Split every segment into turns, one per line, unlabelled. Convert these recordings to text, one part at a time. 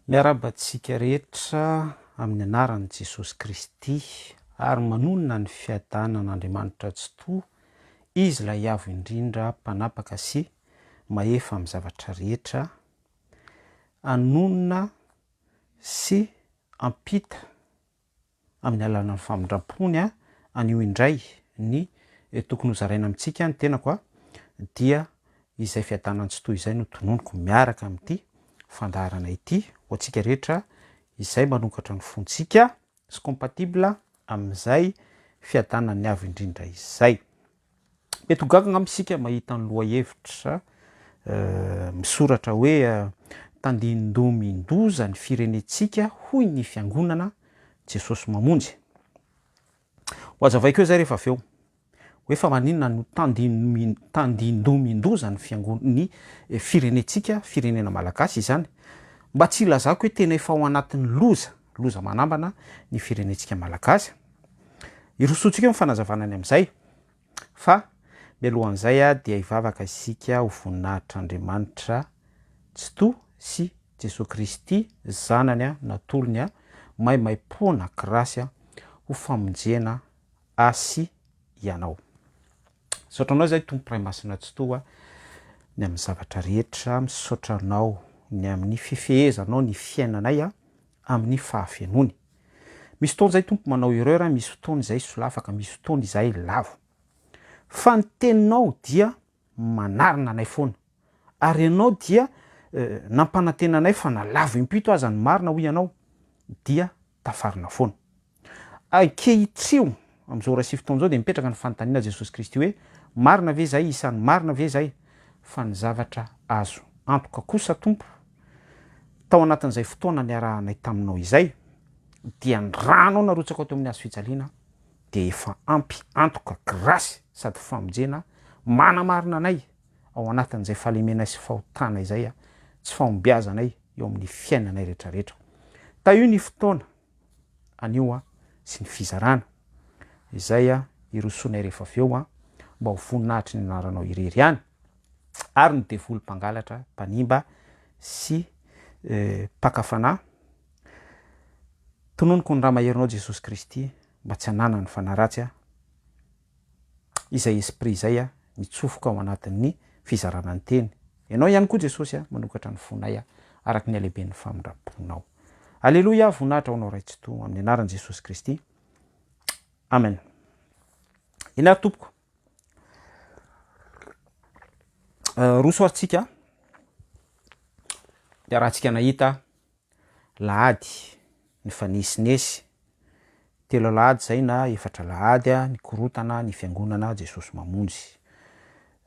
Miarahaba antsika rehetra amin'ny anaran'i Jesosy Kristy ary manonona ny fiadanan'Andriamanitra Tsitoha, Izy ilay Avo Indrindra Mpanapaka sy Mahefa amin'ny zavatra rehetra, hanonona sy hampita amin'ny alalan'ny famindram-pony aho anio indray ny tokony hozaraina amintsika ny tenako a dia izay fiadanana tsy toy izay no tononiko miaraka amin'ity fandaharana ity ho antsika rehetra izay manokatra ny fontsika sy compatible amin'izay fiadanan'ny avo indrindra izay Mety ho gaga angamba isika mahita ny lohahevitra misoratra hoe Tandindomin-doza ny firenentsika hoy ny Fiangonana, Jesosy Mamonjy. Ho hazavaiko eo izay rehefa avy eo, hoe fa maninona no tandindomin-doza ny Fiangonana, ny firenentsika, firenena malagasy izany? Mba tsy hilazako hoe tena efa ao anatin'ny loza loza manambana ny firenentsika malagasy. Hirosoantsika eo ny fanazavana ny amin'izay fa mialohan'izay dia hivavaka isika ho voninahitr'Andriamanitra Tsitoha sy Jesoa Kristy Zanany natolony maimaimpoana grasy ho famonjena ahy sy ianao. Misaotra anao izay Tompo Ray Masina Tsitoha ny amin'ny zavatra rehetra, misaotra anao ny amin'ny fifehezanao ny fiainanay amin'ny fahafenoany. Misy fotoana izay Tompo manao erreur, misy fotoana izay solafaka, misy fotoana izay lavo. Fa ny teninao dia manarina anay foana. ary ianao dia nampanantena anay fa na lavo impito aza ny marina hoy ianao dia tafarina foana. Ankehitrio amin'izao ora sy fotoana izao dia mipetraka ny fanontaniana Jesosy Kristy hoe marina ve izay isany marina ve izay fa ny zavatra azo antoka kosa Tompo tao anatin'izay fotoana niarahanay taminao izay dia ny ranao narotsakao teo amin'ny hazo fijaliana dia efa ampy antoka grasy sady famonjena manamarina anay ao anatin'izay fahalemenay sy fahotana izay, tsy fahombiazanay eo amin'ny fiainanay rehetrarehetra. Tahio ny fotoana anio sy ny fizarana izay hirosoanay rehefa avy eo mba ho voninahitry ny anaranao irery ihany ary ny devoly mpangalatra, mpanimba sy mpaka fanahy. Tononiko ny Ra maherinao Jesosy Kristy mba tsy hananany fanaratsy aho. izay esprit izay a mitsofoka ao anatin'ny fizarana ny teny. Ianao ihany koa Jesosy a manokatra ny fonay a araka ny halehiben'ny famindram-ponao. Aleloia voninahitra ho anao Ray Tsitoha amin'ny anaran'i Jesosy Kristy. Amen. Eny ary tompoko. Roso ary tsika. Iarahantsika nahita. alahady nifanesinesy, telo alahady izay na efatra alahady nikorotana ny fiangonana Jesosy Mamonjy.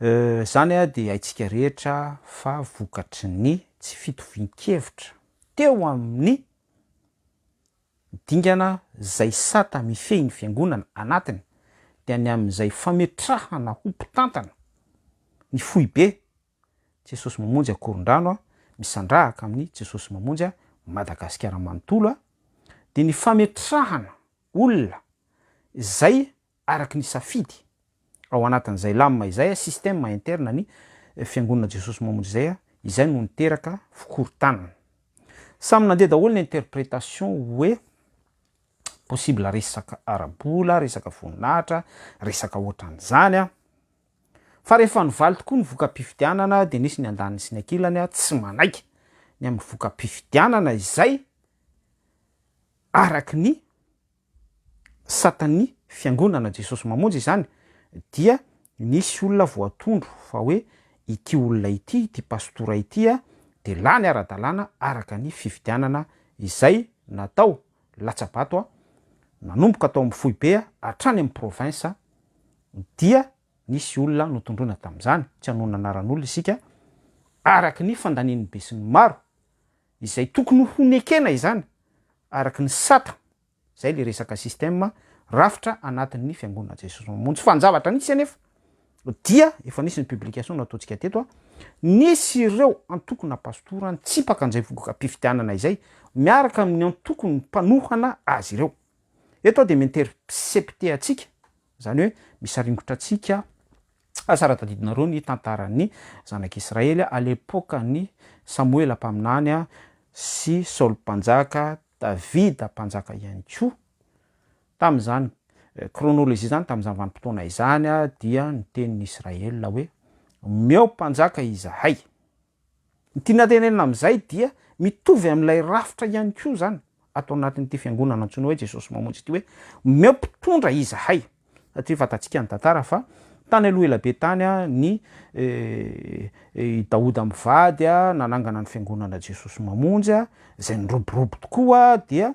Euh, izany dia haintsika rehetra fa vokatry ny tsy fitovian-kevitra teo amin'ny dingana izay sata mifehy ny fiangonana anatiny dia ny amin'izay fametrahana ho mpitantana ny foibe Jesosy mamonjy akorondrano a misandrahaka amin'ny Jesosy mamonjy a Madagasikara manontolo a dia ny fametrahana olona izay araky ny safidy ao anatin'izay lam izay a système interne ny fiangonana Jesosy mamonjy izay a izay no niteraka fikorontanana samy nandeha daholo ny interprétation hoe possible resaka ara-bola resaka voninahitra resaka ohatran'izany a Fa rehefa nivaly tokoa ny voka-pifidianana dia nisy ny andaniny sy ny ankilany tsy manaiky ny amin'ny voka-pifidianana izay araky ny satan'ny fiangonana Jesosy Mamonjy izany dia nisy olona voatondro fa hoe ity olona ity, ity pastora ity dia lany ara-dalàna araka ny fifidianana izay natao. latsa-bato nanomboka tao amin'ny foibe hatrany amin'ny province dia nisy olona notondroina tamin'izany, tsy hanohana anaran'olona isika, araka ny fandanian'ny besinimaro izay tokony ho nekena izany araka ny sata, izay ilay resaka système rafitra anatin'ny fiangonana Jesosy Mamonjy, fa ny zavatra nisy anefa dia efa nisy ny publication nataontsika teto a, nisy ireo antokona pastora nitsipaka an'izay vongokam-pifidianana izay miaraka amin'ny antokon'ny mpanohana azy ireo. Eto aho dia mi-intercepter antsika, izany hoe misaringotra antsika fa sara tadidinareo ny tantaran'ny zanak'i Israely à l'époque n'i Samoela mpaminany sy Saoly mpanjaka, Davida mpanjaka ihany koa. Tamin'izany kronolojia izany, tamin'izany vanim-potoana izany, dia niteny ny Israely hoe, Omeo mpanjaka izahay. Ny tiana tenenina amin'izay dia mitovy amin'ilay rafitra ihany koa izany ato anatin'ity fiangonana antsoina hoe Jesosy Mamonjy ity hoe, Omeo mpitondra izahay. Satria fantatsika ny tantara fa tany aloha ela be tany ny i Daoda mivady nanangana ny fiangonana Jesosy Mamonjy izay niroborobo tokoa dia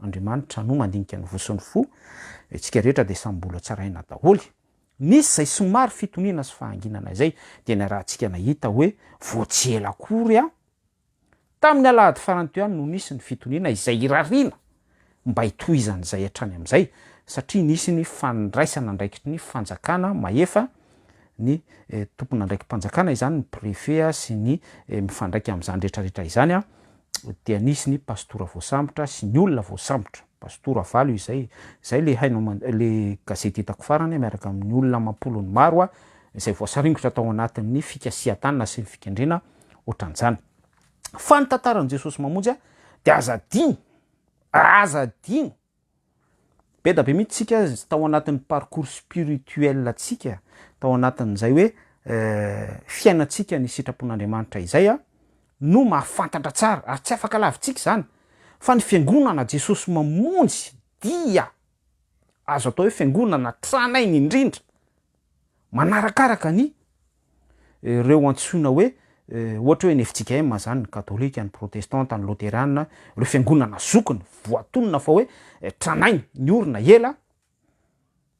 Andriamanitra no mandinika ny voa sy ny fo, isika rehetra dia samy mbola tsy arahina daholo. Nisy izay somary fitoniana sy fahanginana izay dia niarahantsika nahita hoe vao tsy ela akory aho, tamin'ny alahady farany teo ihany no nisy ny fitoniana izay irariana mba hitohizan'izay hatrany amin'izay satria nisy ny fandraisana andraikitry ny fanjakana mahefa, ny tompon'andraiki-panjakana izany, ny préfet sy ny mifandraika amin'izany rehetra rehetra izany. dia nisy ny pastora voasambotra sy ny olona voasambotra, pastora valo izay, izay le haino aman, le gazety hitako farany miaraka amin'ny olona amam-polony maro a, izay voasaringotra tao anatin'ny fikasihan-tanana sy ny fikendrena ohatran'izany. Fa ny tantaran'i Jesosy Mamonjy a, dia aza adino, aza adino, Be da be mihitsy tsika tao anatin'ny parcours spirituel tsika, tao anatin'izay hoe fiainantsika ny sitrapon'Andriamanitra izay no mahafantatra tsara, ary tsy afaka lavintsika izany fa ny fiangonana Jesosy mamonjy dia azo atao hoe fiangonana tranainy indrindra manarakaraka ny ireo antsoina hoe ohatra hoe ny FJKM zany, ny katolika, ny protestanta, ny loterana, ireo fiangonana zokiny voatonona fa hoe tranainy, niorina ela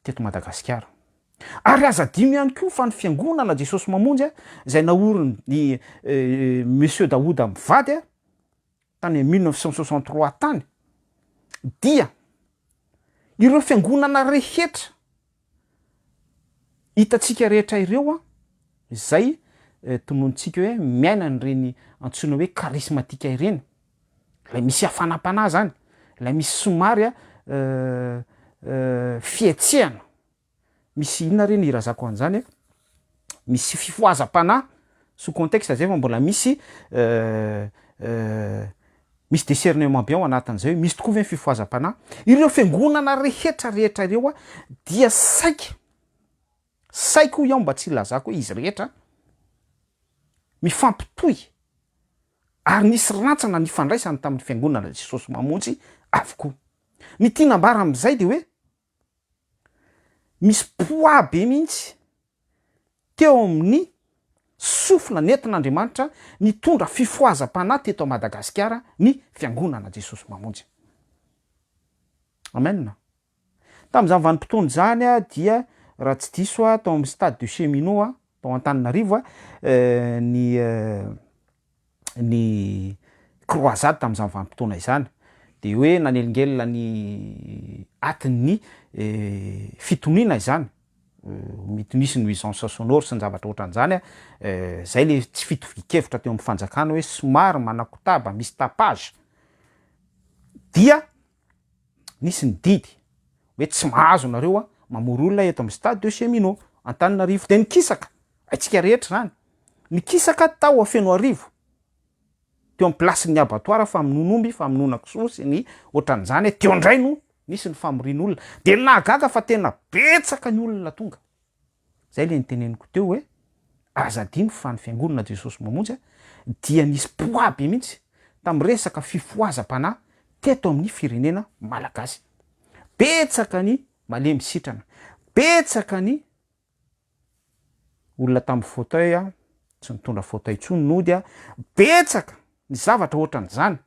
teto Madagasikara. Ary aza adino ihany koa fa ny fiangonana Jesosy Mamonjy a, izay naorin'i Monsieur Daouda mivady a, tany amin'ny mille neuf cent soixante trois tany, dia ireo fiangonana rehetra Hitantsika rehetra ireo an, izay tononontsika hoe miaina an'ireny antsoina hoe karismatika ireny, ilay misy hafanam-panahy izany, ilay misy somary a fihetsehana, misy inona re ny hirazako an'izany e? misy fifohazam-panahy sous contexte zay fa mbola misy misy discernement be ao anatin'izay hoe misy tokoa ve ny fifohazam-panahy, ireo fiangonana rehetra rehetra ireo a dia saika saika hoy aho mba tsy hilazako hoe izy rehetra mifampitohy ary nisy rantsana nifandraisany tamin'ny fiangonana Jesosy Mamonjy avokoa, ny tiana ambara amin'izay de hoe. misy poids be mihitsy teo amin'ny sofina nentin'Andriamanitra nitondra fifohazam-panahy teto Madagasikara ny Fiangonana Jesosy Mamonjy. Amen. Tamin'izany vanim-potoana izany dia raha tsy diso aho tao amin'ny Stade de Cheminot tao Antananarivo ny ny croisade tamin'izany vanim-potoana izany dia hoe nanelingelina ny atin'ny fitoniana izany mety misy nuisance sonore sy ny zavatra ohatran'izany an, izay le tsy fitovian-kevitra teo amin'ny fanjakana hoe somary manakotaba, misy tapage, dia nisy ny didy hoe tsy mahazo nareo mamory olona eto amin'ny stade de chez Mino Antananarivo dia nikisaka haitsika rehetra izany, nikisaka tao Fenoarivo teo amin'ny place-n'ny abattoir famonoan'omby, famonoana kisoa sy ny ohatran'izany, teo indray no nisy ny famorian'olona dia nahagaga fa tena betsaka ny olona tonga. Izay ilay niteneniko teo hoe aza adino fa ny Fiangonana Jesosy Mamonjy dia nisy poids be mihitsy tamin'ny resaka fifohazam-panahy teto amin'ny firenena malagasy. Betsaka ny malemy sitrana, betsaka ny olona tamin'ny fauteuil, tsy nitondra fauteuil intsony nody, betsaka ny zavatra ohatran'izany.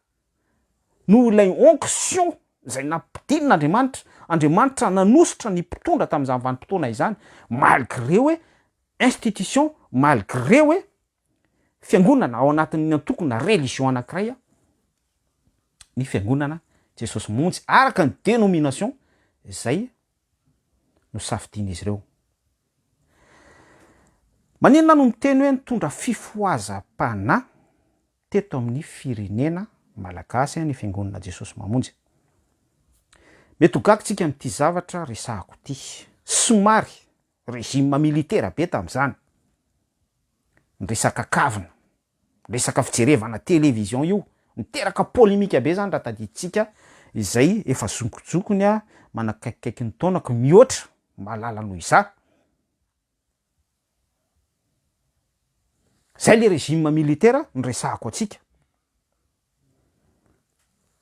noho ilay onction izay nampidinin' Andriamanitra, Andriamanitra nanosotra ny mpitondra tamin'izany vanim-potoana izany, malgré hoe institution, malgré hoe fiangonana ao anatin'ny antoko na religion anankiray ny fiangonana Jesosy monjy araka ny dénomination izay nosafidian'izy ireo. Maninona no miteny hoe nitondra fifohazam-panahy? teto amin'ny firenena Malagasy ny Fiangonana Jesosy Mamonjy. Mety ho gaga isika amin'ity zavatra resahako ity. Somary régime militaire be tamin'izany ny resaka kavina, ny resaka fijerevana télévision io, niteraka polémique be izany raha tadidintsika izay efa zokizokiny manakaikikaiky ny taonako mihoatra malala noho izaho. Zay le régime militaire noresahako antsika.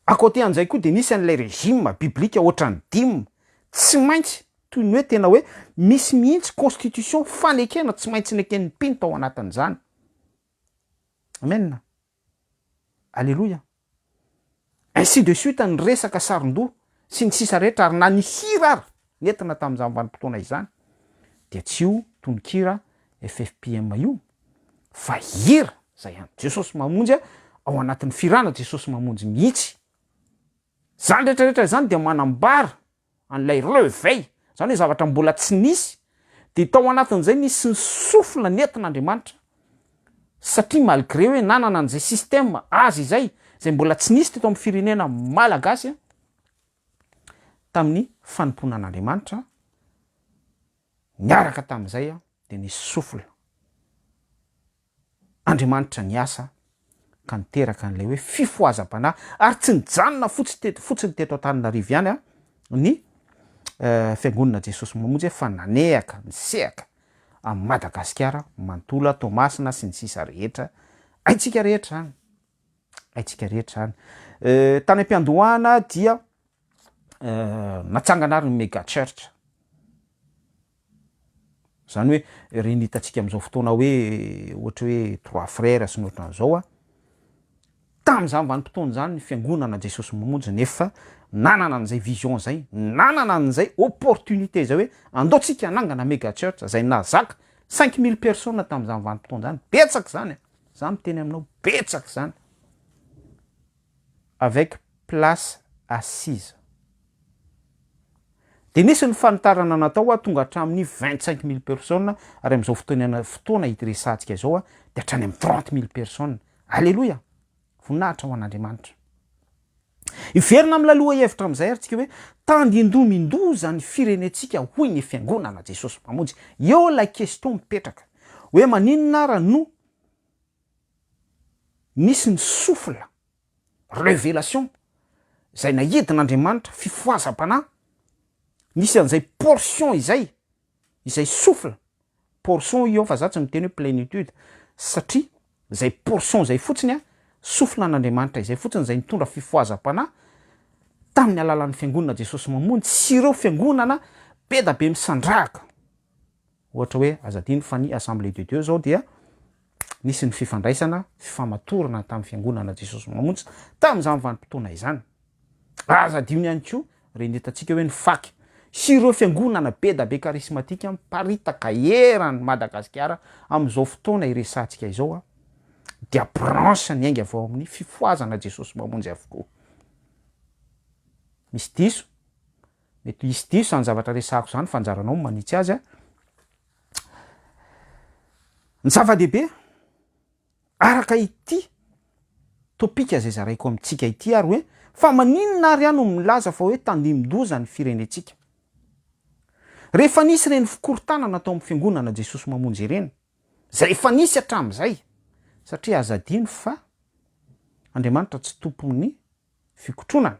A côté an'izay koa dia misy an'ilay régime biblique ohatran'ny dime, tsy maintsy toy ny hoe tena hoe misy mihitsy constitution fanekena tsy maintsy neken'ny mpino tao anatin'izany. Amen. Aleloia. Ainsi de suite ny resaka sarondoha sy ny sisa rehetra ary na ny hira ary nentina tamin'izany vanim-potoana izany dia tsy io tononkira FFPM io fa hira izay an'i Jesosy Mamonjy ao anatin'ny firana Jesosy Mamonjy mihitsy. Izany rehetra rehetra izany dia manambara an'ilay reveil, izany hoe zavatra mbola tsy nisy, dia tao anatin'izay nisy ny souffle nentin'Andriamanitra, satria malgré hoe nanana an'izay système azy izay, izay mbola tsy nisy teto amin'ny firenena Malagasy, tamin'ny fanompoana an'Andriamanitra, niaraka tamin'izay dia nisy souffle. Andriamanitra ny asa ka niteraka an'ilay hoe fifohazam-panahy ary tsy nijanona fotsiny teto Antananarivo ihany ny Fiangonana Jesosy Mamonjy fa nanehaka nisehaka amin'i Madagasikara manontolo, Toamasina sy ny sisa rehetra haintsika rehetra izany, haintsika rehetra izany. Tany am-piandohana dia natsangana ary ny mega church, zany hoe ireny hitantsika amzao fotoana hoe ohatra hoe trois frères sy ny ohatran'izao a, tam'zany vanim-potoana zany ny fiangonana Jesosy Mamonjy nefa nanana an'izay vision zay, nanana an'izay opportunité zay hoe andao tsika hanangana mega church zay nahazaka cinq mille personnes tam'zany vanim-potoana zany, betsaka zany e, za miteny aminao betsaka zany. avec place assise. Dia nisy ny fanitarana natao hoa tonga hatramin'ny vingt cinq mille personnes ary amin'izao fotoana fotoana hiresahantsika izao dia hatrany amin'ny trente mille personnes. Aleloia! Voninahitra ho an'Andriamanitra. Hiverina amin'ilay lohahevitra amin'izay ary tsika hoe tandindomin-doza ny firenentsika hoy ny Fiangonana Jesosy Mpamonjy. Eo ilay question mipetraka hoe maninona ara no Nisy ny souffle, révélation, izay nahidin'Andriamanitra, fifohazam-panahy, nisy an'izay portion izay, izay souffle, portion io fa za tsy miteny hoe plénitude, satria izay portion izay fotsiny an, souffle an'Andriamanitra izay fotsiny izay nitondra fifohazam-panahy tamin'ny alalan'ny fiangonana Jesosy Mamonjy sy ireo fiangonana be da be misandrahaka. Ohatra hoe aza adino fa ny Assemblée de Dieu izao dia nisy ny fifandraisana, fifamatorana tamin'ny Fiangonana Jesosy Mamonjy tamin'izany vanim-potoana izany. Aza adino ihany koa ireny hitantsika hoe ny fak sy ireo fiangonana bedabe karismatika miparitaka eran'i Madagasikara amin'izao fotoana iresahantsika izao dia branche niainga avy ao amin'ny Fifohazana Jesosy Mamonjy avokoa. Misy diso? Mety hisy diso izany zavatra resahako izany fa anjaranao ny manitsy azy a. Ny zava-dehibe, araka ity topika izay zaraiko amintsika ity ary hoe, fa maninona ary aho no milaza fa hoe tandindoza ny firenentsika? Rehefa nisy ireny fikorontanana tao amin'ny Fiangonana Jesosy Mamonjy ireny, izay efa nisy hatramin'izay, satria aza adino fa Andriamanitra tsy tompon'ny fikotronana,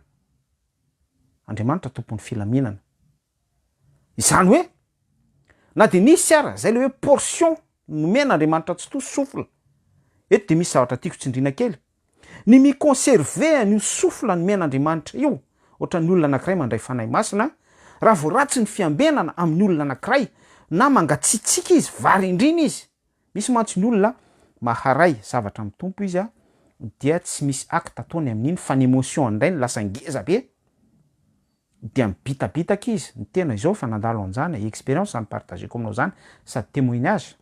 Andriamanitra tompon'ny filaminana. Izany hoe, na dia misy ara, izay le hoe portion nomen Andriamanitra tsy to souffle, eto dia misy zavatra tiako tsindrina kely, ny mi conserver an'io souffle nomen Andriamanitra io, ohatran'ny olona anakiray mandray Fanahy Masina, raha vao ratsy ny fiambenana amin'ny olona anakiray, na mangatsiatsiaka izy, varindrina izy, Misy mantsy ny olona maharay zavatra amin'ny Tompo izy a, dia tsy misy acte ataony amin'iny fa ny emotion indray no lasa ngeza be, dia mibitabitaka izy, ny tena izao efa nandalo an'izany e, expérience zany partageko aminao zany sady témoignage,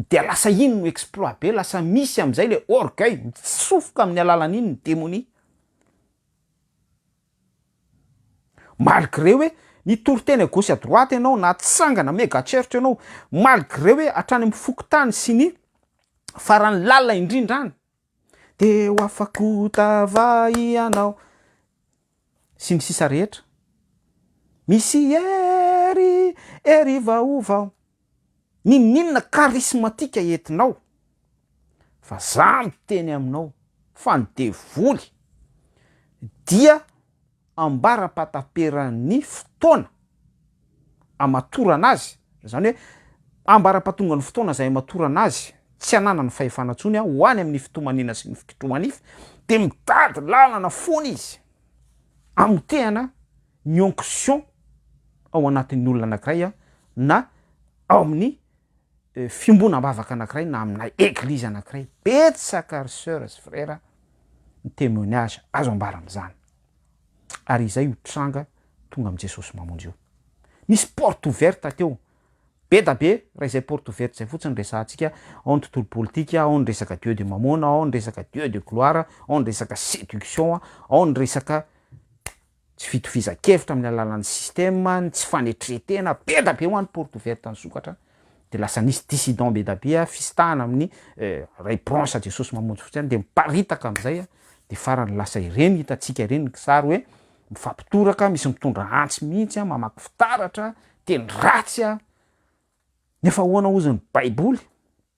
dia lasa iny no exploit be, lasa misy amin'izay le orgueil, mitsofoka amin'ny alalan'iny ny demonia. Malgré hoe nitory teny à gauche à droite ianao, natsangana mega church ianao, malgré hoe hatrany amin'ny fokontany sy ny faran'ny lalina indrindra any, dia ho afako tava ianao sy ny sisa rehetra, misy hery hery vaovao. Ninoninona karismatika entinao fa za miteny aminao fa ny devoly dia ambarapataperan'ny fotoana amatorana azy zany hoe ambarapatongan'ny fotoana zay amatorana azy tsy ananany fahefana tsony aho ho any amin'ny fitomaniana sy ny fikitrohanify de mitady lalana fona izy amotehana ny onction ao anatin'ny olona anankiray na ao amin'ny fiombonam-bavaka anankiray na amina eglizy anankiray, betsaka ry soeur sy frère ny témoignage azo ambara amin'izany, ary izay io tranga tonga amin'i Jesosy mamonjy io. Nisy porte ouverte teo, be da be raha izay porte ouverte izay fotsiny resahantsika, ao ny tontolo politika, ao ny resaka Dieu de Mamona, ao ny resaka Dieu de Gloire, ao ny resaka séduction, ao ny resaka. Tsy fitovizankevitra amin'ny alalan'ny système ny tsy fanetretena be da be ho an'ny porte ouverte ny sokatra de lasa nisy dissident be da be a fisitahana amin'ny repronse Jesosy mamonjy fotsy any de miparitaka amizay a de farany lasa ireny hitantsika ireny ny kisary hoe mifampitoraka misy mitondra antsy mihitsy a mamaky fitaratra teny ratsy a nefa ahoana ozy ny baiboly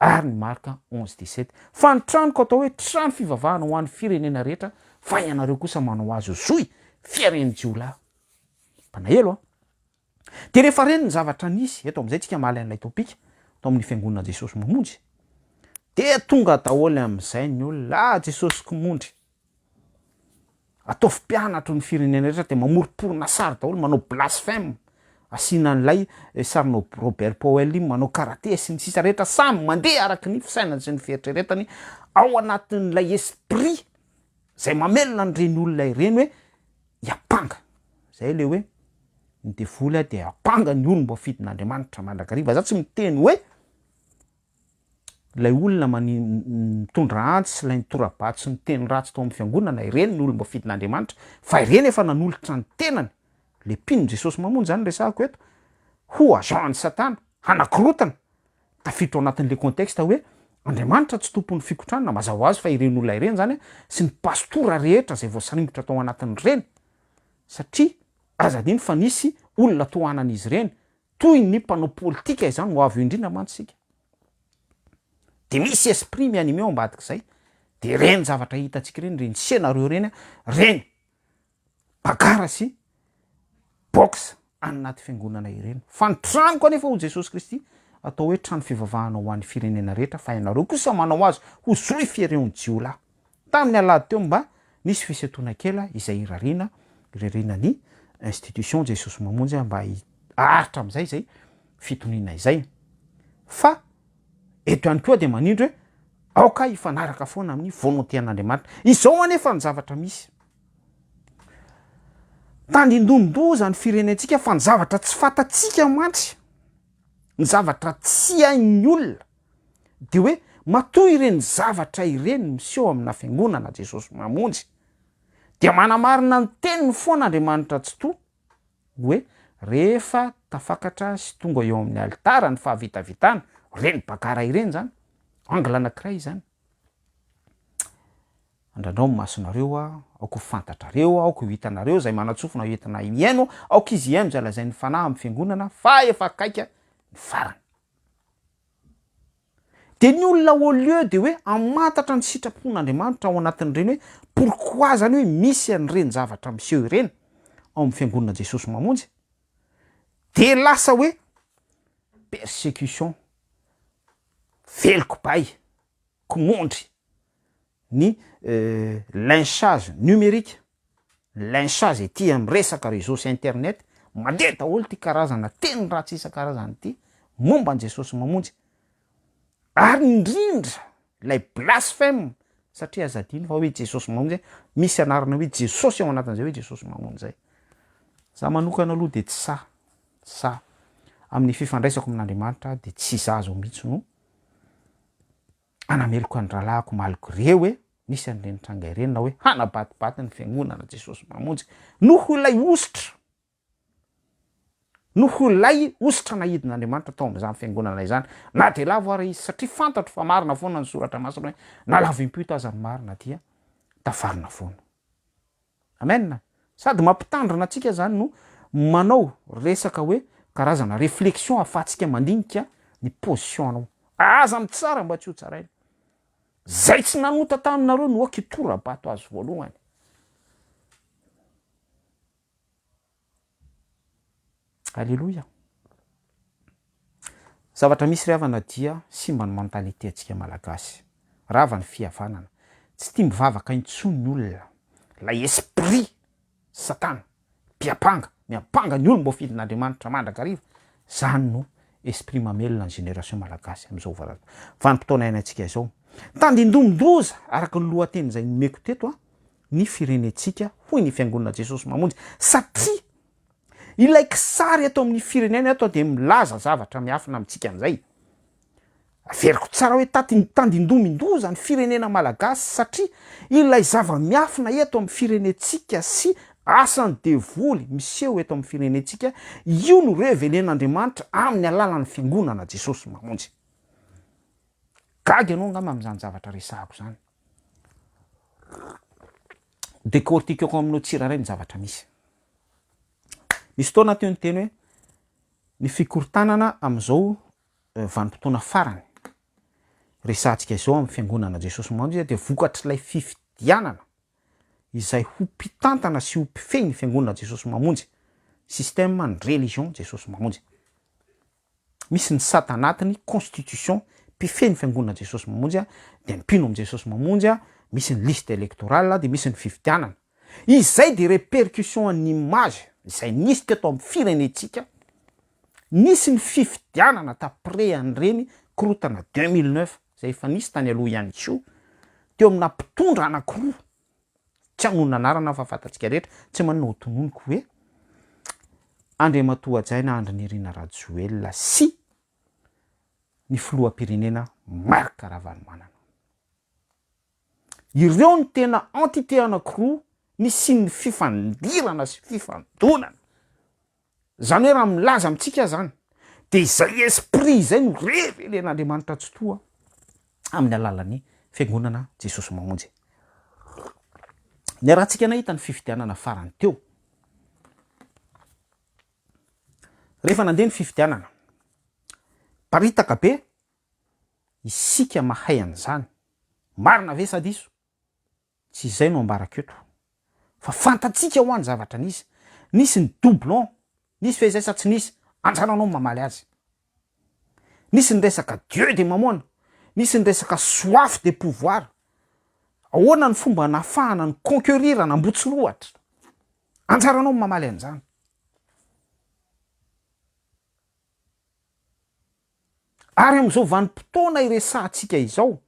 ary ny Marka onze dix sept, fa ny tranoko atao hoe trano fivavahana ho an'ny firenena rehetra, fa ianareo kosa manao azy ho zohy fiaren'ny jiolahy. Mpanahelo an! Dia rehefa reny ny zavatra nisy, eto amin'izay tsika mahalay an'ilay topika, tao amin'ny fiangonana Jesosy mamonjy, dia tonga daholo amin'izay ny olona, ah Jesosy Kmondry! Ataovy mpianatro ny firenena rehetra dia mamoromporona sary daholo manao blasphème asiana an'ilay eh, sarinao Robert Powell iny manao karate sy ny sisa rehetra samy mandeha araka ny fisainany sy ny fieritreretany ao anatin'ilay esprit zay mamelona an'ireny olona ireny hoe hiampanga zay le hoe ny devoly dia ampanga ny olom-boafidin'Andriamanitra mandrakariva za tsy miteny hoe ilay olona mani, mitondra antsy sy ilay nitora-batsy niteny ratsy tao amin'ny fiangonana, ireny no olom-bafidin'Andriamanitra, fa ireny efa nanolotra ny tenany, le mpino Jesosy Mamonjy izany resahako eto, ho agent an'i Satana, hanakorontana, tafiditra ao anatin'le contexte hoe, Andriamanitra tsy tompon'ny fikotranana, mazava ho azy fa ireny olona ireny izany sy ny pastora rehetra izay voasaringotra tao anatin'ireny, satria aza adino fa nisy olona tohanan'izy ireny, Toy ny mpanao politika izany ho avy eo indrindra mantsy isika. Dia misy esprit mi-animé ao ambadik'izay, dia ireny zavatra hitantsika ireny, ireny scénario ireny, ireny bagarre sy boxe any anaty fiangonana ireny. Fa ny tranoko anefa hoy Jesosy Kristy, atao hoe trano fivavahana ho an'ny firenena rehetra, fa ianareo kosa manao azy ho zohy fiereon'ny jiolahy. Tamin'ny alahady teo mba nisy fisentoana kela izay irariana irariana ny institution Jesosy Mamonjy mba hiaritra amin'izay izay fitoniana izay. Fa eto ihany koa dia manindry hoe aoka hifanaraka foana amin'ny volonté an'Andriamanitra. Izao anefa ny zavatra misy. Tandindonin-doza ny firenentsika fa ny zavatra tsy fantatsika mantsy, ny zavatra tsy hain'ny olona, Dia hoe matoa ireny zavatra ireny miseho amina fiangonana Jesosy Mamonjy, dia manamarina ny teniny foana Andriamanitra Tsitoha hoe rehefa tafakatra sy tonga eo amin'ny alitara ny fahavitavitana, ireny bagara ireny izany, angle anankiray izany. Andrandrao ny masonareo aho, aoka ho fantatrareo aho, aoka ho hitanareo izay manatsofina ho entina mihaino, aoka izy hihaino izay lazain'ny Fanahy amin'ny fiangonana fa efa akaiky ny farany. Dia ny olona au lieu de hoe hamantatra ny sitrapon'Andriamanitra ao anatin'ireny hoe pourquoi izany hoe misy an'ireny zavatra miseho ireny ao amin'ny Fiangonana Jesosy Mamonjy dia lasa hoe persecution, veloko bay, komondry, ny lynchage numérique. Lincha izay tia miresaka réseau sy internet, mandeha daholo ity karazana teny ratsy isan-karazany ity momba an'i Jesosy Mamonjy, ary indrindra ilay blasphème satria aza adino fa hoe Jesosy Mamonjy hoe misy anarana hoe Jesosy ao anatin'izay hoe Jesosy Mamonjy izay. Izaho manokana aloha dia tsy sahy, tsy sahy. Amin'ny fifandraisako amin'Andriamanitra aho dia tsy izaho izao mihitsy no hanameloka ny rahalahiko malgré hoe Nisy an'ireny tranga ireny na hoe hanabatibaty ny Fiangonana Jesosy Mpamonjy noho ilay hosotra, noho ilay hosotra nahidin'Andriamanitra tao amin'izany Fiangonana izany, na dia lavo ary izy, satria fantatro fa marina foana ny Soratra Masina hoe na lavo im-pito aza ny marina dia tafarina foana. Amen! Sady mampitandrina antsika zany no manao resaka hoe karazana reflexion afatsika mandinika ny position anao. Aza mitsara mba tsy ho tsaraina. Zay tsy nanota taminareo no ok hitora-bato azy voalohany. Aleloia! Zavatra misy ry havana dia simba ny mentalité antsika malagasy. Rava ny fihavanana. Tsy tia mivavaka intsony ny olona. Ilay esprit satana, mpiampanga, miampanga ny olom boafidy n'Andriamanitra mandrakariva, zany no esprit mamelona ny génération malagasy amizao vanim potoana iainantsika izao. Tandindomin-doza araka ny lohateny izay nomeko teto an, ny firenentsika, hoy ny Fiangonana Jesosy Mamonjy, satria ilay kisary eto amin'ny firenena eto dia milaza zavatra miafina amintsika an'izay. Averiko tsara hoe taty tandindomin-doza ny firenena malagasy satria ilay zava-miafina eto amin'ny firenentsika sy asan'ny devoly miseho eto amin'ny firenentsika, io no revelen'Andriamanitra amin'ny alalan'ny Fiangonana Jesosy Mamonjy. Gaga ianao angamba amin'izany zavatra resahako izany. Décortiquons aminao tsirairay ny zavatra misy. Nisy fotoana teo niteny hoe ny fikorontanana amin'izao vanim-potoana farany resahantsika izao amin'ny fiangonana Jesosy no mandry dia vokatr'ilay fifidianana izay ho mpitantana sy ho mpifehy ny fiangonana Jesosy Mamonjy, système ny religion Jesosy Mamonjy. Misy ny sata anatiny, constitution, mpifehy ny fiangonana Jesosy Mamonjy a, dia mpino amin'i Jesosy Mamonjy a, misy ny liste électorale a, dia misy ny fifidianana. Izay dia répercussion an'ny image izay nisy teto amin'ny firenentsika, nisy ny fifidianana t'après an'ireny korotana deux mille neuf izay efa nisy tany aloha ihany koa, teo amina mpitondra anakiroa Tsy hamono anarana aho fa fantatsika rehetra. Tsy maninona ho tononiko hoe Andriamatoa Hajaina Andry Nirina Rajoelina sy ny Filoham-pirenena Marc Ravalomanana. Ireo no tena entité anankiroa nisian'ny fifandirana sy fifandonana. Zany hoe raha milaza amintsika aza zany dia izay esprit izay no revelen'Andriamanitra tsitoha amin'ny alalan'ny Fiangonana Jesosy Mamonjy. Niarahantsika nahita ny fifidianana farany teo. Rehefa nandeha ny fifidianana, paritaka be isika mahay an'izany. Marina ve sa diso? Tsy izay no ambarako eto fa fantatsika hoa ny zavatra nisy. Nisy ny doublon, nisy ve izay sa tsy nisy? Anjaranao ny mamaly azy. Nisy ny resaka Dieu de Mamona, nisy ny resaka soif de pouvoir. Ahoana ny fomba nahafahana ny conquerir an'Ambotsiloatra? Anjaranao ny mamaly an'izany. Ary amin'izao vanim-potoana iresahantsika izao,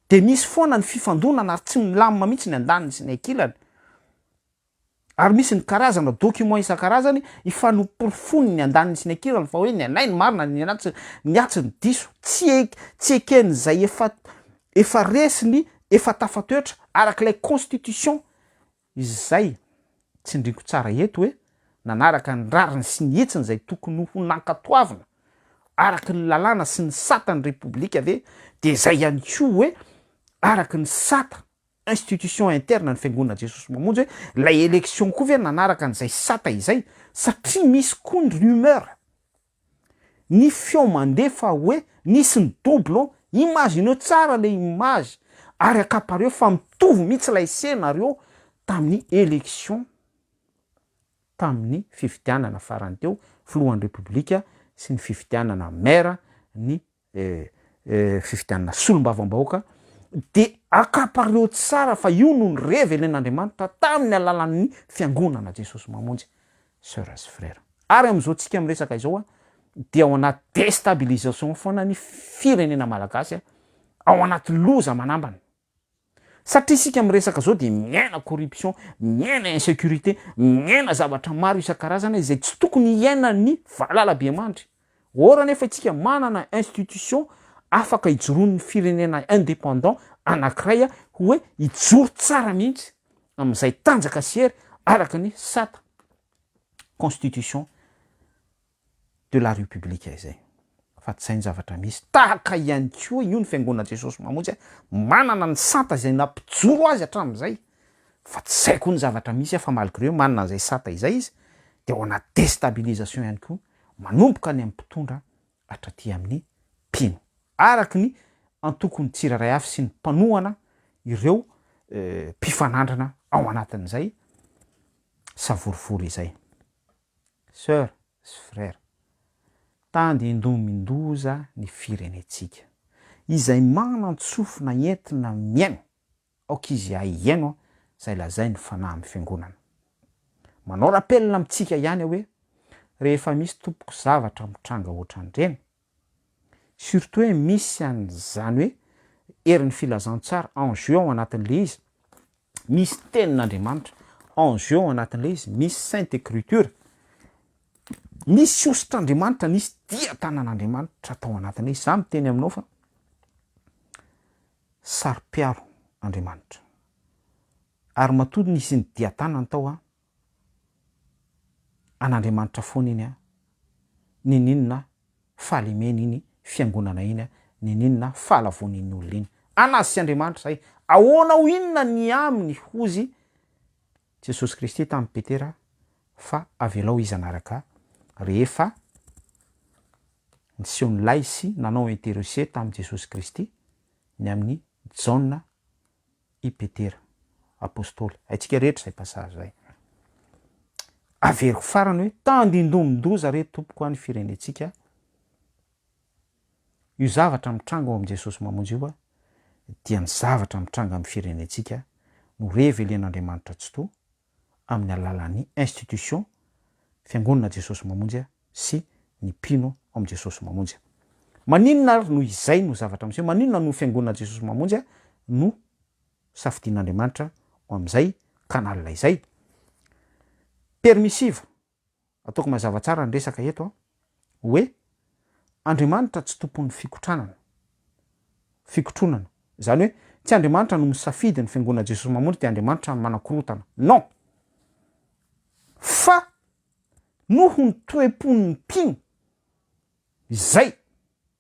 Dia misy foana ny fifandonana ary tsy milamina mihitsy ny andaniny sy ny ankilany. Ary misy ny karazana documents isan-karazany ifanoporofoany ny andaniny sy ny ankilany fa hoe ny anay no marina, ny anay, ny atsy no diso. Tsy tsy eken'izay efa efa resiny, efa tafatoetra, arak'ilay constitution. Izay tsindriako tsara eto hoe nanaraka ny rariny sy ny hetsiny izay tokony ho nankatoavina araka ny lalàna sy ny sata ny Repoblika ve dia izay ihany koa hoe araka ny sata institution interne ny Fiangonana Jesosy Mamonjy hoe ilay élection koa ve nanaraka an'izay sata izay satria misy koa ny rumeur Ny feo mandefa hoe nisy ny doublon, imagineo tsara le image ary akapareo fa mitovy mihitsy ilay scenario tamin'ny election tamin'ny fifidianana farany teo filohan'ny repoblika sy ny fifidianana maire ny fifidianana solombavambahoaka dia akapareo tsara fa io no ny revelin' Andriamanitra tamin' ny alalan' ny Fiangonana Jesosy Mamonjy Soeurs sy Frères ary amin' izao tsika miresaka izao a dia ao anaty destabilisation foana ny firenena malagasy ao anaty loza manambana. Satria isika miresaka zao dia miaina corruption, miaina insecurité, miaina zavatra maro isan-karazany izay tsy tokony hiainan'ny valalabemandry. Or anefa isika manana institution afaka ijoroan'ny firenena indépendant anankiray hoe hijoro tsara mihitsy amin'izay tanjaka sy hery araka ny sata, constitution, de la République izay fa tsy zay ny zavatra misy, tahaka ihany koa io ny fiangonan'i Jesosy Mamonjy ahy manana ny sata izay nampijoro azy hatramin'izay fa tsy zay koa ny zavatra misy fa malgré hoe manana an'izay sata izay izy de ao anaty destabilisation ihany koa manomboka any amin'ny mpitondra hatraty amin'ny mpino araka ny antokon'ny tsirairay avy sy ny mpanohana ireo mpifanandrana ao anatin'izay savorovoro izay. Soeur sy Frère. Tandindomin-doza ny firenentsika. Izay manan-tsofina entina mihaino aoka izy haihaino izay lazain'ny Fanahy amin'ny Fiangonana. Manao rappel amintsika ihany aho hoe rehefa misy tompoko zavatra mitranga ohatran'ireny Surtout hoe misy an'izany hoe herin'ny filazantsara en jeu ao anatin'ilay izy, misy tenin'Andriamanitra en jeu ao anatin'ilay izy, misy sainte ecriture, misy hositr'Andriamanitra, misy dia tanan'Andriamanitra tao anatin'ilay izy. Za miteny aminao fa saro-piaro Andriamanitra. Ary matoa nisy ny dia tanany tao an! an'Andriamanitra foana iny an! Niniana fa lemena iny fiangonana iny an! Niniana fa alavoan' iny olona iny an! Azy sy Andriamanitra izay! Ahoana ho inona ny aminy? Hozy Jesosy Kristy tamin'i Petera fa avelao izy hanaraka Ahy. Rehefa niseho nilay sy nanao interreuser tamin'i Jesosy Kristy ny amin'i Jaona i Petera apostoly. Haintsika rehetra izay passage izay. Averiko farany hoe tandindomin-doza re tompoko any firenentsika io zavatra mitranga ao amin'i Jesosy mamonjy io dia ny zavatra mitranga amin'ny firenentsika no revelen'Andriamanitra Tsitoha amin'ny alalan'ny institution Fiangonana Jesosy Mamonjy sy ny mpino ao amin'i Jesosy Mamonjy. Maninona ary no izay no zavatra miseho? Maninona no Fiangonana Jesosy Mamonjy no safidian'Andriamanitra ho amin'izay canal izay? Permissive. Ataoko mazava tsara ny resaka eto an, hoe Andriamanitra tsy tompon'ny fikotranana, fikotronana. Izany hoe tsy Andriamanitra no misafidy ny fiangonana Jesosy Mamonjy dia Andriamanitra ny manakorotana. Non! Fa noho ny toe-pon'ny mpino izay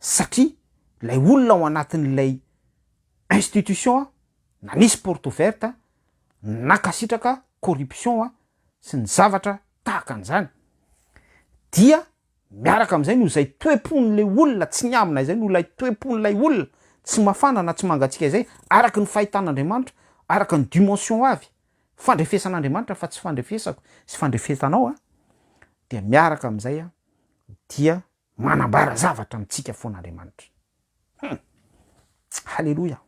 satria ilay olona ao anatin'ilay institution nanisy porte ouverte nankasitraka corruption sy ny zavatra tahaka an'izany dia miaraka amin'izay noho izay toe-pon'ilay olona tsy niambina izay noho ilay toe-pon'ilay olona tsy mafana na tsy mangatsiaka izay araka ny fahitan'Andriamanitra araka ny dimension avy fandrefesan'Andriamanitra fa tsy fandrefesako sy fandrefesanao dia miaraka amin'izay dia manambara zavatra amintsika foana Andriamanitra. Hum! Haleloia!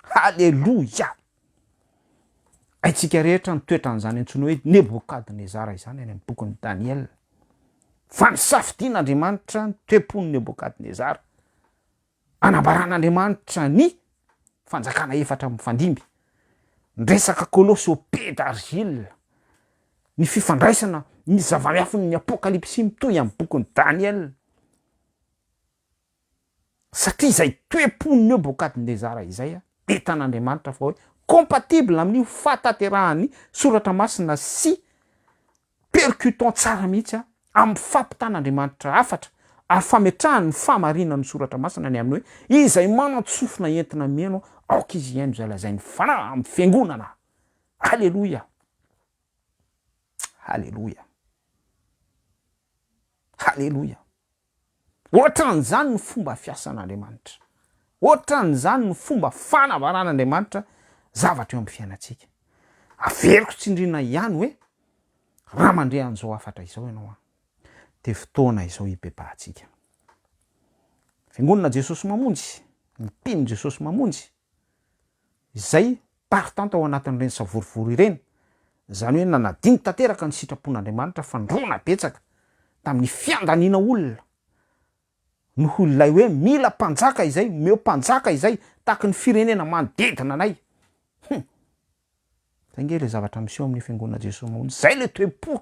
Haleloia! Haintsika rehetra ny toetran'izany antsoina hoe Nebokadnezara izany any amin'ny bokin'i Daniela. Fa nisafidian'Andriamanitra ny toe-pon'i Nebokadnezara Anambaran'Andriamanitra ny fanjakana efatra mifandimby, ny resaka Kolosy au pied d'argile, ny fifandraisana, ny zava-miafin'ny Apokalypsy mitohy amin'ny bokin'i Daniela, satria izay toe-pon'i Nebokadnezara izay entan'Andriamanitra fa hoe compatible amin'io fahatanterahan'ny soratra masina sy percutant tsara mihitsy an, amin'ny fampitan'Andriamanitra hafatra ary fametrahany ny fahamarinan'ny soratra masina ny amin'ny hoe izay manan-tsofina entina mihaino aoka izy hihaino izay lazain'ny fanahy amin'ny fiangonana. Haleloia! Haleloia! Haleloia! Hoatran'izany no fomba fiasan'Andriamanitra. Hoatran'izany no fomba fanambaran'Andriamanitra zavatra eo amin'ny fiainantsika. Averiko tsindriana ihany hoe, raha mandre an'izao hafatra izao ianao an, dia fotoana izao hibebahantsika. Fiangonana Jesosy Mamonjy, ny mpino Jesosy Mamonjy, izay tartanta ao anatin'ireny savorovoro ireny, izany hoe nanadino tanteraka ny sitrapon'Andriamanitra fandroana betsaka tamin'ny fiandaniana olona noho ilay hoe mila mpanjaka izay, omeo mpanjaka izay tahaky ny firenena manodidina anay. Hum! Izay ange ilay zavatra miseho amin'ny Fiangonan'i Jesoa Mahonry, izay ilay toe-po.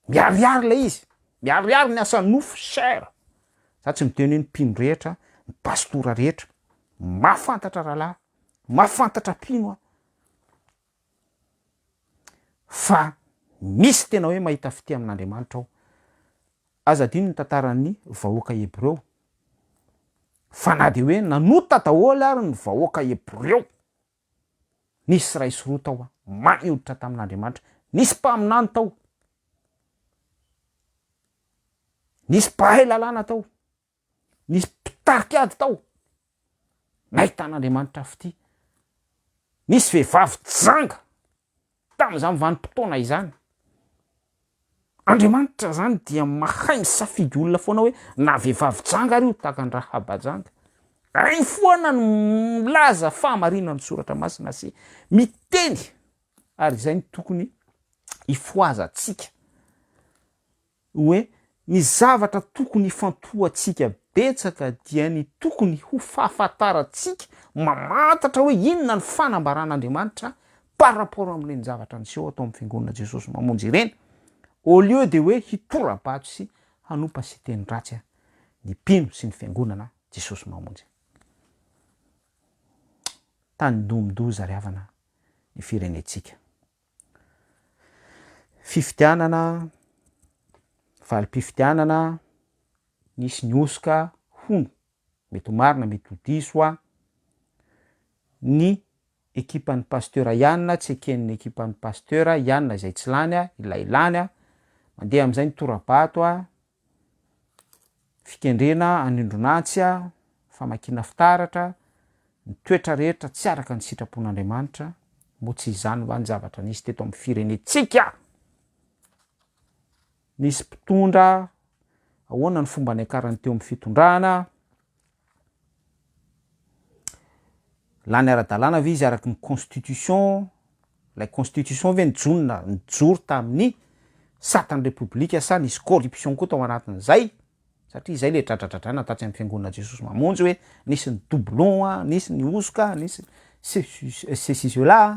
Miharihary ilay izy, miharihary ny asa nofo cher, za tsy miteny hoe ny mpino rehetra, ny pastora rehetra, mahafantatra rahalahy, mahafantatra mpino aho fa misy tena hoe mahita fitia amin'Andriamanitra ao, aza adino ny tantaran'ny vahoaka Hebreo, fa na dia hoe nanota daholo ary ny vahoaka Hebreo, Nisy iray sy roa tao ambany hoditra tamin'Andriamanitra. Nisy mpaminany tao. Nisy mpahay lalàna tao. Nisy mpitarika ady tao. Nahitan'Andriamanitra fitia. Nisy vehivavy janga Tamin'izany vanim-potoana izany, Andriamanitra izany dia mahay misafidy olona foana hoe na vehivavy janga ary io tahaka an'i Rahaba janga. Hainy foana ny milaza fahamarinan'ny soratra masina sy miteny ary izay no tokony hifohazantsika. Hoe ny zavatra tokony hifantohantsika betsaka dia ny tokony ho fahafantarantsika mamantatra hoe inona ny fanambaran'Andriamanitra par rapport amin'ireny zavatra niseho ato amin'ny Fiangonana Jesosy Mamonjy ireny, au lieu dia hoe hitora-bato sy hanompa siteny ratsy ny mpino sy ny Fiangonana Jesosy Mamonjy. Tany domindoza ry havana ny firenentsika. Fifidianana, valim-pifidianana, nisy ny hosoka hono, mety ho marina mety ho diso hoa, ny ekipan'ny pasitera ihany tsy eken'ny ekipan'ny pasitera ihany izay tsy lany ilay lany, mandeha amin'izay ny tora-bato. Fikendrena anindron'antsy, famakiana fitaratra, ny toetra rehetra tsy araka ny sitrapon'Andriamanitra, moa tsy izany va ny zavatra nisy teto amin'ny firenentsika? Nisy mpitondra, ahoana ny fomba niakarany teo amin'ny fitondrana? Lany ara-dalàna ve izy araky ny constitution, ilay constitution ve nijona, nijoro tamin'ny satan'ny repoblika sa nisy corruption koa tao anatin'izay, satria izay le dradradradraina tatsy amin'ny fiangonana Jesosy Mamonjy hoe nisy ny doublon a, nisy ny hosoka a, nisy ny ceci, cela a.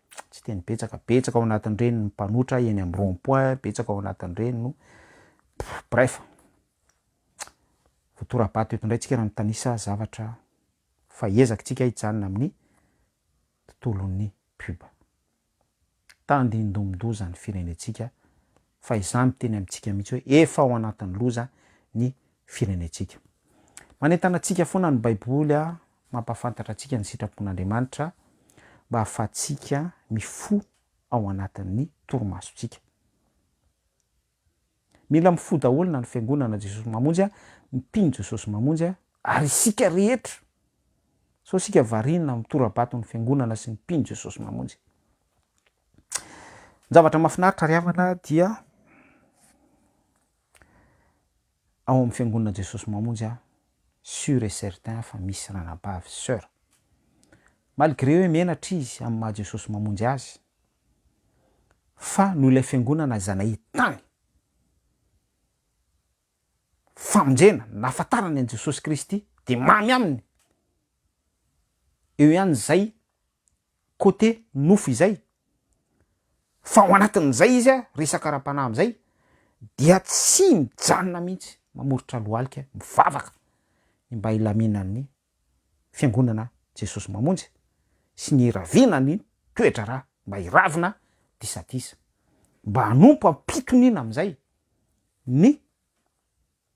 tsy teny betsaka, betsaka ao anatin'ireny ny mpanotra eny amin'ny rond point, betsaka ao anatin'ireny no bref, voatora-bato eto indray tsika raha mitanisa zavatra fa ezakitsika hijanona amin'ny tontolon'ny pub. Tandindomin-doza ny firenentsika. fa izaho miteny amintsika mihitsy hoe efa ao anatin'ny loza ny firenentsika. Manentana antsika foana ny Baiboly mampahafantatra antsika ny sitrapon'Andriamanitra mba hahafahantsika mifoha ao anatin'ny torimasontsika. Mila mifoha daholo na ny fiangonana Jesosy Mamonjy, ny mpino Jesosy Mamonjy ary isika rehetra sao isika variana amin'ny tora-baton'ny fiangonana sy ny mpino Jesosy Mamonjy. Ny zavatra mahafinaritra ry havana dia ao amin'ny fiangonana Jesosy Mamonjy aho sur et certain fa misy ranabavy sy soeur, malgré hoe menatra izy amin'ny maha Jesosy Mamonjy azy fa noho ilay fiangonana izay nahitany famonjena, nahafantarany an'i Jesosy Kristy dia mamy aminy, eo ihany izay côté nofo izay, fa ao anatin'izay izy a, resaka ara-panahy amin'izay dia tsy mijanona mihitsy, mamoritra lohalika, mivavaka ny mba hilaminan'ny Fiangonana Jesosy Mamonjy sy ny hiraviana ny toe-draharaha, mba hiravina disadisa, mba hanompo am-pitoniana amin'izay ny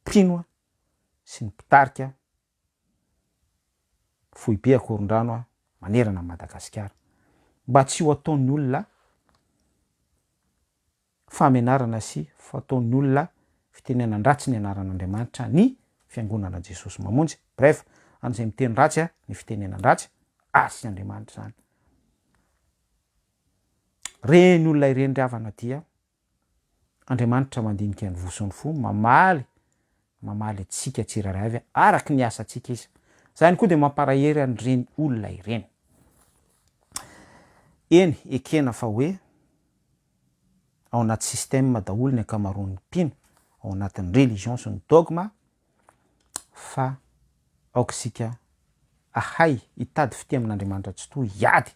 mpino sy ny mpitarika. foibe akorondrano manerana an'i Madagasikara. Mba tsy ho ataon'ny olona fahamenarana sy fataon'ny olona fitenenan-dratsy ny anaran'Andriamanitra ny Fiangonana Jesosy Mamonjy. Bref, an'izay miteny ratsy ny fitenenan-dratsy, ary tsy Andriamanitra izany. Ireny olona ireny ry havana dia. Andriamanitra mandinika ny voson fo mamaly mamaly antsika tsirairay avy araky ny asantsika izy. Izany koa dia mamparahery an'ireny olona ireny. Eny, ekena fa hoe ao anaty système daholo ny ankamaroan'ny mpino, ao anatin'ny religions sy ny dogmes, fa aoka isika ahay hitady fitia amin'Andriamanitra Tsitoha, hiady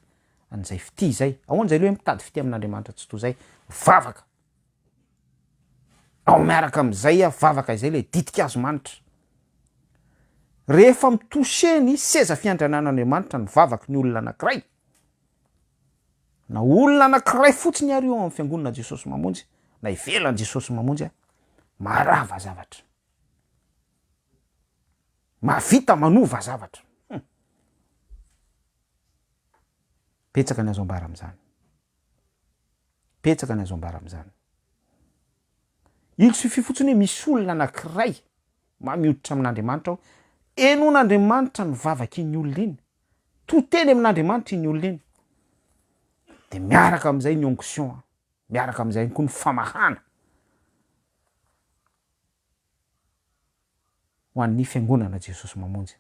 an'izay fitia izay. Ahoana izay le hoe mitady fitia amin'Andriamanitra Tsitoha izay? Vavaka! Ao miaraka amin'izay a, vavaka izay le ditik'Azomanitra. Rehefa mi-toucher ny seza fiandrianan'Andriamanitra ny vavaka ny olona anankiray, Na olona anankiray fotsiny ary eo amin'ny fiangonana Jesosy Mamonjy, na ivelan'i Jesosy Mamonjy a, maharava zavatra, mahavita manova zavatra. Humm. Betsaka ny azo ambara amin'izany, betsaka ny azo ambara amin'izany. Il suffit fotsiny hoe misy olona anankiray mahay mihoditra amin'Andriamanitra ao, henoin'Andriamanitra ny vavak'iny olona iny, to teny amin'Andriamanitra iny olona iny de miaraka am'zay ny onction a, miaraka am'zay ihany koa ny famahana ho an'ny fiangonana Jesosy Mamonjy,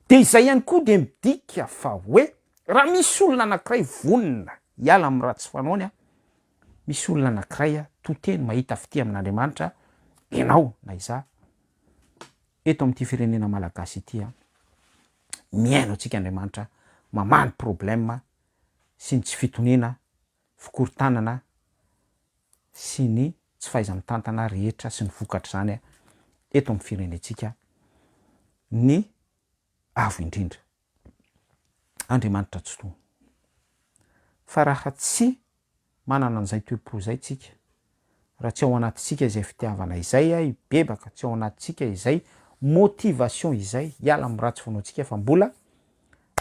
de izay ihany koa de midika fa hoe raha misy olona anakiray vonona hiala amin'ny ratsy fanaony a, misy olona anakiray a to teny mahita fitia amin'Andriamanitra ianao na izaho eto amin'ity firenena Malagasy ity a. mihaino antsika Andriamanitra mamaly problème sy ny tsy fitoniana, fikorontanana sy ny tsy fahaiza-mitantana rehetra sy ny vokatr'izany eto amin'ny firenentsika ny Avo indrindra, Andriamanitra Tsitoha. Fa raha tsy Manana an'izay toe-po izay tsika. Raha tsy ao anatintsika izay fitiavana izay hibebaka, tsy ao anatintsika izay motivation izay hiala amin'ny ratsy finoantsika fa mbola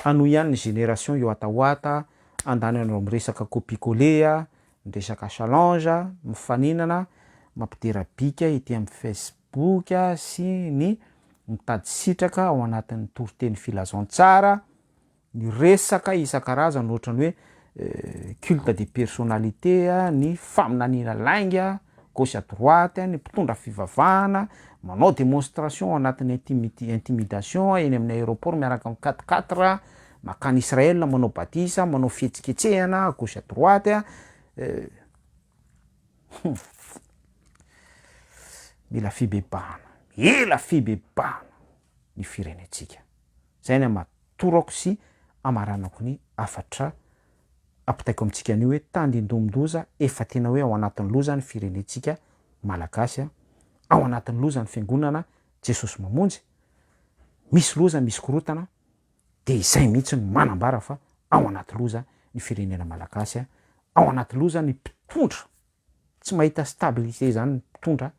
hanohy ihany ny génération yoatawata, handany an'ireo miresaka copie coller, miresaka challenge, mifaninana, mampidera bika ety amin'ny facebook sy ny mitady sitraka ao anatin'ny toriteny filazantsara, ny resaka isan-karazany ohatran'ny hoe culte de personnalité, ny faminaniana lainga gauche à droite, ny mpitondra fivavahana manao démonstration ao anatin'ny intimid- intimidation eny amin'ny aéroport miaraka amin'ny quatre quatre mankany Israël manao batisa, manao fihetsiketsehana gauche à droite a, hum mila fibebahana, mila fibebahana ny firenentsika, zay ny ama-. torako sy amaranako ny hafatra ampitaiko amintsika anio hoe tandindomin-doza efa tena hoe ao anatin'ny loza ny firenentsika malagasy a! ao anatin'ny loza ny fiangonana Jesosy Mamonjy, misy loza misy korotana dia izay mihitsy no manambara fa ao anaty loza ny firenena malagasy a! ao anaty loza ny mpitondra tsy mahita stabilité izany ny mpitondra,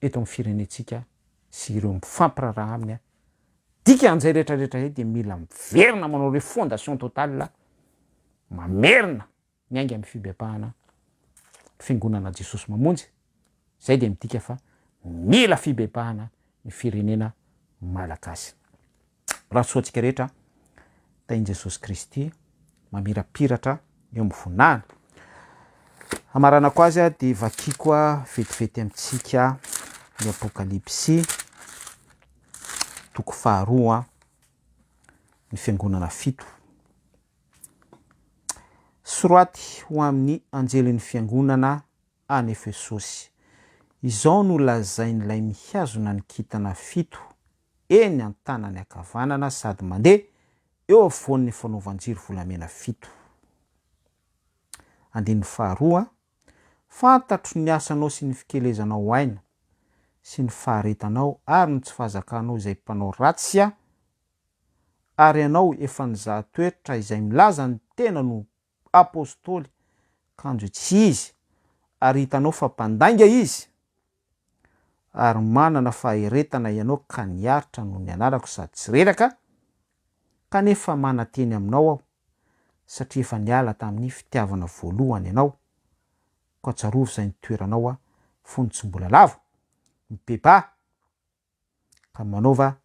eto amin'ny firenentsika sy ireo mifampiraharaha aminy, dika an'izay rehetra rehetra izay dia mila miverina manao refondation totale, mamerina miainga amin'ny fibebahana ny fiangonana Jesosy Mamonjy, izay dia midika fa mila fibebahana ny firenena malagasy. Raha soa antsika rehetra, tahin'i Jesosy Kristy mamirapiratra eo amin'ny voninahiny. Hamaranako azy aho dia vakiko vetivety amintsika ny Apokalypsy toko faharoa ny fiangonana fito. Soraty ho amin'ny anjelin'ny fiangonana any Efesosy. Izao no lazain'ilay mihazona ny kitana fito eny an-tanany ankavanana sady mandeha eo afovoan'ny fanaovan-jiro volamena fito. Andininy faharoa, Fantatro ny asanao sy ny fikelezanao aina sy ny faharetanao ary ny tsy fahazakanao izay mpanao ratsy aho, ary ianao efa nizaha toetra izay milaza ny tenany ho Apostoly, kanjo tsy izy, ary hitanao fa mpandainga izy, ary manana faheretana ianao ka niaritra noho ny anarako sady tsy reraka, kanefa mananteny aminao aho, satria efa niala tamin'ny fitiavana voalohany ianao, koa tsarovy izay nitoeranao fony tsy mbola lavo, mibebaha, ka manaova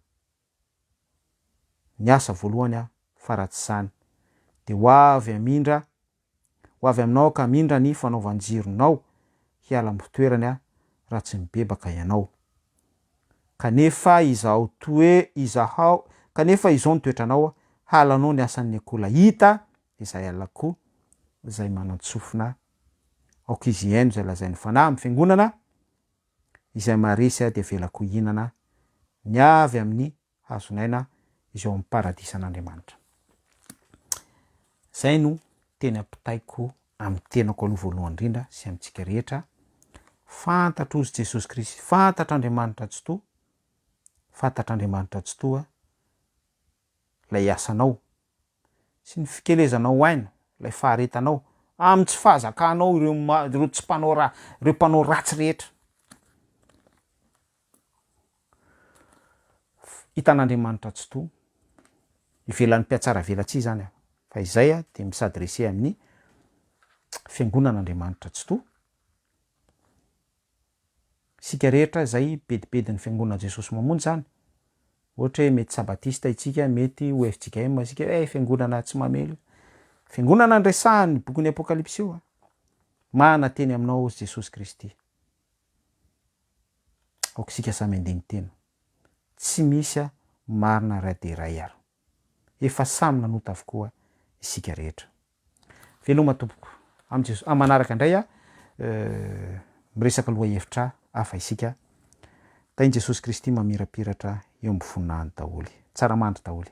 ny asa voalohany aho fa raha tsy izany dia ho avy hamindra ho avy aminao aho ka hamindra ny fanaovan-jironao hiala am-pitoerany aho raha tsy mibebaka ianao kanefa izaho toe izahao kanefa izao ny toetranao halanao ny asan'ny akola hita izay alako izay manan-tsofina aoka izy hihaino izay lazain'ny fanahy amin'ny fiangonana izay maharesy ahy dia avelako hihinana ny avy amin'ny hazon'aina izay ao amin'ny paradisan'Andriamanitra. Izay no teny ampitaiko amin'ny tenako aloha voalohany indrindra sy amintsika rehetra, fantatro ozy Jesosy Kristy, fantatr'Andriamanitra Tsitoha, fantatr'Andriamanitra Tsitoha, ilay asanao, sy ny fikelezanao aina ilay faharetanao, amin'ny tsy fahazakanao ireo ireo tsy mpanao ra ireo mpanao ratsy rehetra. Hitan'Andriamanitra Tsitoha, ivelan'ny mpihatsaravelatsihy izany aho, fa izay aho dia mi-s'adresser amin'ny Fiangonan'Andriamanitra Tsitoha, Isika rehetra izay bedibedin'ny Fiangonan'i Jesosy Mamonjy izany. Ohatra hoe mety Sabatista isika, mety ho fjkm isika, eh Fiangonana tsy mamely. Fiangonana no resahan'ny bokin'ny Apokalypsy io an! Mahana teny aminao ozy Jesosy Kristy. Aoka isika samy handeha miteny. Tsy misy an, marina ray dia ray ary. Efa samy nanota avokoa isika rehetra. Veloma tompoko am Jesosy. Am manaraka ndray a miresaka loha hevitra hafa isika. Tahin Jesosy Kristy mamirapiratra eo am voninahiny daholy. Tsara mandry daholy.